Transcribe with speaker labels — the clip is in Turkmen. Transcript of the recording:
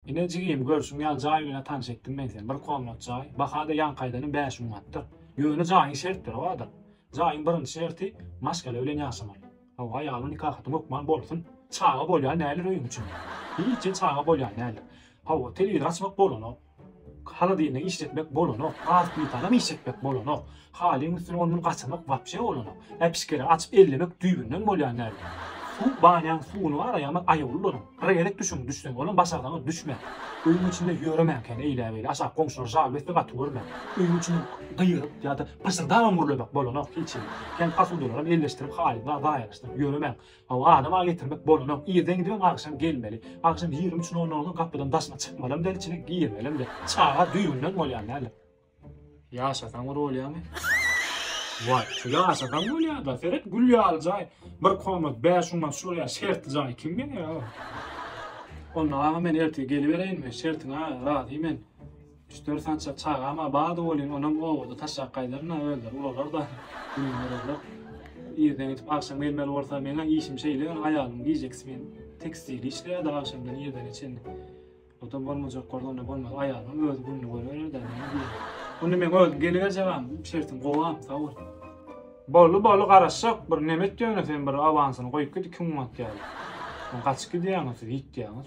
Speaker 1: Ine jigim, görşüň ýaly jaý bilen tanyş etdim men seni. Bir komnat jaý. Baha-da ýaňkaýdanam bäş manatdyr. Ýöne jaýyň şertleri bardyr. Jaýyň birinji şerti, maşgala bilen ýaşamaly. Hawa, ýagny nikahatyň hökman bolsun. Çaga bolýan däldir öýüň içinde. Hiç hem çaga bolýan däldir. Hawa, telewizor açmak bolanok. Holodilnik işletmek bolanok. Gaz plitanam işletmek bolanok. Halyň üstüne ondan gaçyrmak wapşe bolanok. Äpişgere açyp ellemek düýbünden bolýan däl. Suw banýaň suwuny bar aýagyňyz aýawly boluň. Bir gezek düşüň düşseň olam başarsaňyz düşmäň. Öýüň içinde ýöremäň kän eýläbeýle aşak goňşular žal besse gaty görmäň. Öýüň içinden gygyryp ýa-da pyşyrdabam gürlemek bolanok hiç hili. Kän posudalaram elleşdirip haly zaýalaşdyryp ýöremäň. Hawa adam a getirmek bolanok. Irden gidibem agşam gelmeli. Agşam ýigrimi üç nol nolda gapydan daşyna çykmalam däl içine girmelem däl. Çaga düýbünden bolýan däldir. Ýaşasaň bir bolýamy? Wah, şu ýaşasaň bolýada, seret gül ýaly jaý. Bir komnat 5 münat şu bolýa, şertli jaý kim berýa? Onda aga men ertir gelibereýinmi? Şertiňa razy men. Üç dört sançak çagama bada bolýyn, onam obada taşlap gaýdaryn-a, özleri ulalar-da. Irden gidip agşam gelmeli bolsa, meň-ä işim şeýle, ýöne aýalym gijeki smen tekstilde işleýär-de, agşamdan irden çenli. Oda bolmajak bolsa onda bolmaz. Aýalyň özi gününi görerler de näme diýýär. Onda men özüm geliberjegem, şertim gowam, sag bol. Boldy, boldy, garaşjak. Bir neme et ýöne sen bir awansyny goýup git iki gün wagt ýaly. Soň gaçyp gidýäňiz siz, ýitýäňiz.